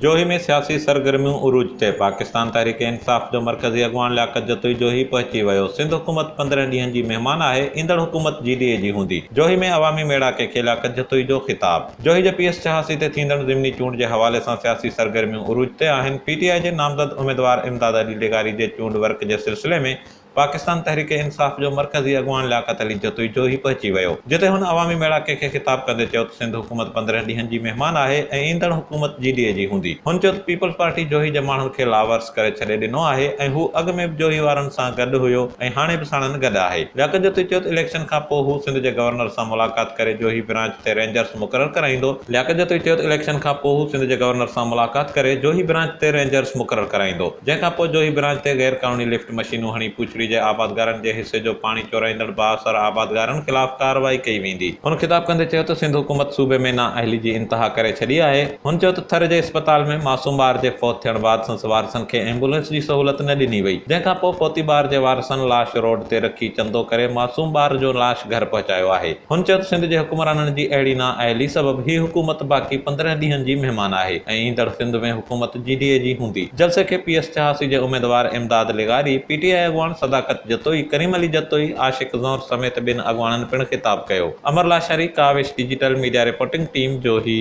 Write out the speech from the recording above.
جوهي ۾ سياسي سرگرميون عروج تي، پاڪستان تحريڪ انصاف جو مرڪزي اڳواڻ لياقت جتوئي جوهي پهچي ويو، سنڌ حڪومت پندرهن ڏينهن جي مهمان آهي، ايندڙ حڪومت جي ڊي اي جي هوندي، جوهي ۾ عوامي ميڙاڪي کي لياقت جتوئي جو خطاب. جوهي جي پي ايس چهاسي تي ٿيندڙ ضمني چونڊ جي حوالي سان سياسي سرگرميون عروج تي آهن، پي ٽي آء جي نامزد اميدوار امداد علي ڊيگاري جي چونڊ ورڪ جي سلسلي ۾ پاڪستان تحريڪ انصاف جو مرڪزي اڳواڻ لياقت علي جتوئي جوهي پهچي ويو، جتي هن عوامي ميڙاڪي کي خطاب ڪندي چيو ته سنڌ حڪومت پندرهن ڏينهن جي مهمان آهي ۽ ايندڙ حڪومت جي ڊي اي جي هوندي. هن چيو ته پيپلز پارٽي جوهي جي ماڻهن کي لاوارث ڪري ڇڏي ڏنو آهي ۽ هو اڳ ۾ به جوهي وارن سان گڏ هيو ۽ هاڻي به ساڻن گڏ آهي. لياقت جتوئي چيو ته اليڪشن کان پوء هو سنڌ جي گورنر سان ملاقات ڪري جوهي برانچ تي رينجرز مقرر ڪرائيندو. لياقت جتوئي چيو ته اليڪشن کان پوء هو سنڌ جي گورنر سان ملاقات ڪري جوهي برانچ تي رينجرز مقرر ڪرائيندو، جنهن کان پوء جوهي برانچ تي غيرقانوني لفٽ، مشينون هڻي پوڇڙي جي آبادگارن جي حصي جو پاڻي چورائيندڙ بااثر آبادگارن خلاف ڪارروائي ڪئي ويندي. هن خطاب ڪندي چيو ته سنڌ حڪومت صوبي ۾ نااهلي جي انتها ڪري ڇڏي آهي. هن چيو ته ٿر جي اسپتال ۾ معصوم ٻار جي فوت ٿيڻ بعد سنس وارثن کي ايمبولينس جي سهولت نه ڏني وئي جنهن کانپوء فوتي ٻار جي وارثن لاش روڊ تي رکي چندو ڪري معصوم ٻار جو لاش گهر پهچايو آهي. هن چيو ته سنڌ جي حڪمرانن جي اهڙي نااهلي سبب هي حڪومت باقي پندرهن ڏينهن جي مهمان آهي ۽ ايندڙ سنڌ ۾ حڪومت جي ڊي اي جي هوندي. جلسي کي پي ايس چهاسي جي اميدوار امداد لغاري، پي ٽي آء اڳواڻ صداقت جتوئي، ڪريم علي جتوئي، عاشق زهر سميت ٻين اڳواڻن پڻ خطاب ڪيو. Amar Lashari, Kawish digital media reporting team, Johi.